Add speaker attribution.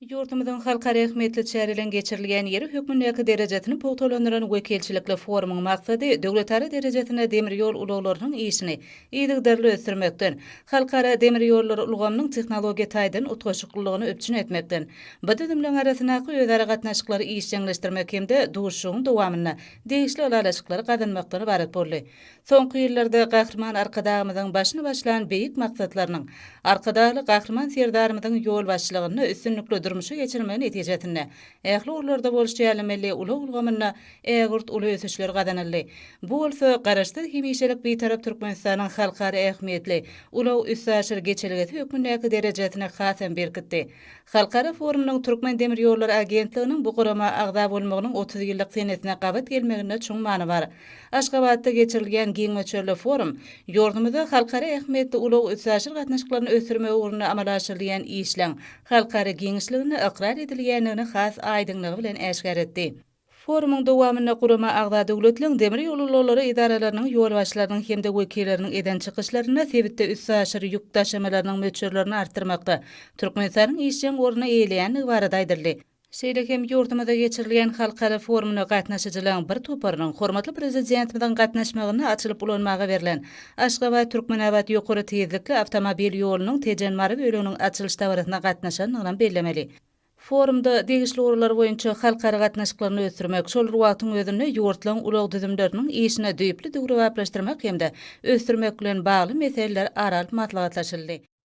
Speaker 1: Ýurdumyzyň halkara ähmiýetli çäreleriň geçirilýän ýeri hökmündäki derejesini pugtalandyran wekilçilikli forumyň maksady döwletara derejesinde demir ýol ulaglarynyň işini yzygiderli ösdürmekden, halkara demir ýollary ulgamynyň tehnologiýa taýdan utgaşyklylygyny üpjün etmekden, bu düzümleriň arasyndaky özara gatnaşyklary işjeňleşdirmek hem-de duşuşygyň dowamynda degişli ylalaşyklary gazanmakdan ybarat boldy. Soňky ýyllarda Gahryman Arkadagymyzyň başyny başlan beýik maksatlarynyň, Arkadagly Gahryman Serdarymyzyň ýolbaşçylygynda üstünlikli durmuşa geçirilmegi netijesinde ähli ugurlarda bolşy ýaly milli ulag ulgamynda ägirt uly ösüşler gazanyldy. Bu bolsa Garaşsyz, hemişelik Bitarap Türkmenistanyň halkara ähmiýetli ulag-üstaşyr geçelgesi hökmündäki derejesini hasam berkitdi. Halkara forumynyň Türkmen demir ýollary agentliginiň bu gurama agza bolmagynyň otuz ýyllyk senesine gabat gelmeginde çuň many bar. Aşgabatda geçirilýän giň möçberli forum ýurdumyzda halkara ähmiýetli ulag-üstaşyr gatnaşyklaryny ösdürmek ugrunda amala aşyrylýan işleň halkara giňişliginde ykrar edilýändigini has aýdyňlygy bilen äşgär etdi. Forumyň dowamynda gurama agza döwletleriň demir ýol ulaglary edaralarynyň ýolbaşçylarynyň hem-de wekilleriniň eden çykyşlarynda sebitde üstaşyr ýük daşamalarynyň möçberlerini artdyrmakda Türkmenistanyň işjeň orny eýeleýändigi barada aýdyldy. Şeýle hem ýurdumyzda geçirilýän halkara forumyna gatnaşyjylaryň bir toparynyň hormatly Prezidentimiziň gatnaşmagynda açylyp ulanmaga berlen Aşgabat, Türkmenabat ýokary tizlikli awtomobil ýolunyň Tejen, Mary böleginiň açylyş dabarasyna gatnaşandygynam bellemeli. Forumda degişli ugurlar boýunça halkara gatnaşyklaryny ösdürmek, şol bir wagtyň özünde ýurtlaryň ulag düzümleriniň işini düýpli döwrebaplaşdyrmak hem-de ösdürmek bilen bagly meseleler ara alyp maslahatlaşyldy.